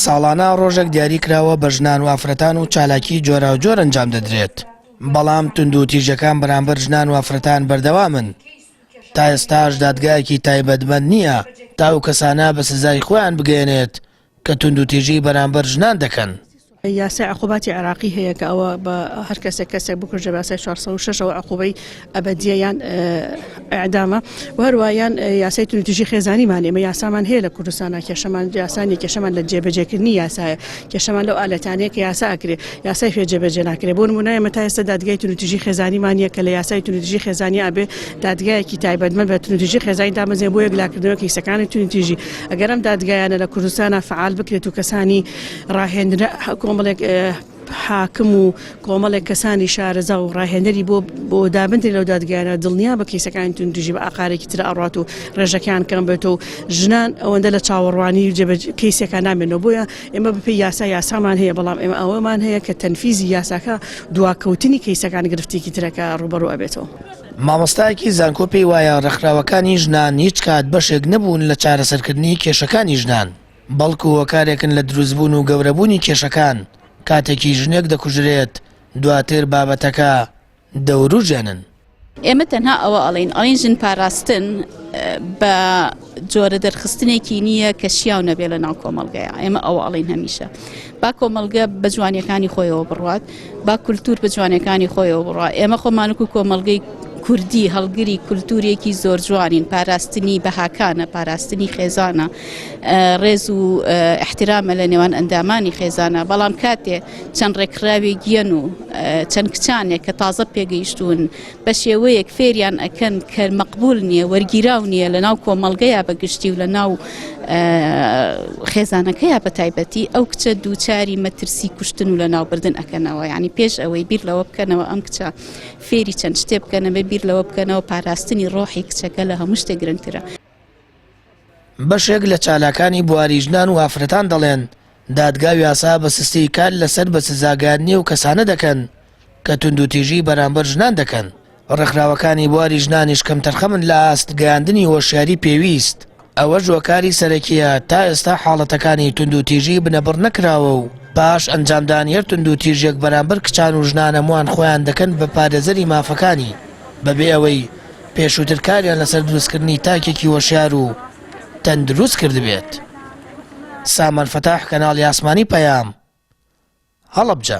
ساڵانە ڕۆژێک دیاریکراوە بە ژنان و ئافرەتان و چالاکی جۆراوجۆر ئەنجام دەدرێت بەڵام تونند و تیژەکان بەرامبەر ژنان و ئافرەتان بەردەوامن تا ئێستاش دادگایەکی تایبەتمەند نییە تاو کەسانە بە سزای خۆیان بگەێنێت کە تونند و تیژی بەرامبەر ژنان دەکەن. یاسای عقوباتی عێراقی هەیە کە ئەوە بە هەر کەسێک کەسێک بکوژە باسای 406 ەوە عقوبەی ئەبدیە یان ئەعدامە وهروایان یاسای تونتیژی خێزانی مان ئێمە یاسامان هەیە لە کوردستانە کێشەمان یاسانی کێشەمان لە جێبەجێکردنی یاسایە کێشەمان لەو ئالەتانەیە کە یاسا ئەکرێ یاسای فێ جێبەجێ ناکرێ بۆ نمونای ئێمە تا ئێستا دادگای تونتیژی خێزانی مانە کە لە یاسای تونتیژی خێزانی ئەبێ دادگایەکی تایبەتمە بە تونتیژی خێزانی دامەزێ بۆ یەکلاکردنەوە کیسەکانی تونتیژی ئەگەرم دادگایانە لە کوردستانە فعال بکرێت و کەسانی ڕاهێنرا کۆمەڵێک حاکم و کۆمەڵێک کەسانی شارەزا و ڕاهێنەری بۆ بۆ دابندی لەو دادگایانە دڵنیا بە کەیسەکانی تون دژی بە ئاقارێکی تر ئاڕات و ڕێژەکان کەم بێت و ژنان ئەوەندە لە چاوەڕوانی و جێبە کەیسەکە نامێنەوە بۆیە ئێمە بپی یاسا یاسامان هەیە بەڵام ئێمە ئەوەمان هەیە کە تەنفیزی یاساکە دواکەوتنی کەیسەکان گرفتێکی ترەکە ڕوبەڕۆ ئەبێتەوە. مامۆستایەکی زانکۆ پێی وایە ڕێکخراوەکانی ژنان هیچ کات بەشێک نەبوون لە چارەسەرکردنی کێشەکانی ژنان. بەڵکو هۆکارێکن لە دروستبوون و گەورەبوونی کێشەکان، کاتێکی ژنێک دەکوژرێت دواتر بابەتەکە دەوروژێنن. ئێمە تەنها ئەوە ئەڵێین، ئەڵێین ژن پاراستن بە جۆرە دەرخستنێکی نییە کە شیاو نەبێ لە ناو کۆمەڵگەیە، ئێمە ئەوە ئەڵێین هەمیشە با کۆمەڵگە بە جوانیەکانی خۆیەوە بڕوات، با کولتور بە جوانەکانی خۆیەوە بڕا، ئێمە خۆمانک و کۆمەڵگەی کوردی هەڵگری کولتورێکی زۆر جوانین، پاراستنی بەهاکانە، پاراستنی خێزانە. ڕێز و احترامە لە نێوان ئەندامانی خێزانە بەڵام کاتێ چەند ڕێکخراوێ گیەن و چەند کچانێک کە تازە پێگەیشتون بە شێوەیەک فێریان ئەکەن کە مەقبول نییە وەرگیراو نییە لە ناو کۆمەڵگەیە بە گشتی و لە ناو خێزانەکەیە بە تایبەتی ئەو کچە دووچاری مەترسی کوشتن و لە ناوبردن ئەەکەنەوە ینی پێش ئەوەی بیر لەوە بکەنەوە ئەم کچە فێری چەند شتێ بکەنەوە بیر لەوە بکەنەوە پاراستنی ڕۆحی کچەکە لە هەموو شتێک گرنگترە بەشێک لە چالاکانی بواری ژنان و ئافرەتان دەڵێن، دادگا و یاسا بە سستیی کار لەسەر بە سزاگەیاندنی ئەو کەسانە دەکەن کە توندوتیژیی بەرامبەر ژنان دەکەن، ڕێکخراوەکانی بواری ژنانیش کەمتەرخەمن لە ئاست گەیاندنی هۆشیاریی پێویست، ئەوەش هۆکاری سەرەکییە تا ئێستا حاڵەتەکانی توندوتیژیی بنەبڕ نەکراوە و پاش ئەنجامدانی هەر توندوتیژییەک بەرامبەر کچان و ژنان هەمووان خۆیان دەکەن بە پارێزەری مافەکانی بەبێ ئەوەی پێشووتر کاریان لەسەر دروستکردنی تاکێکی هۆشیار و تەندروست کردبێت. سامان فتاح کەناڵی ئاسمانی پەیام، هەڵەبجە.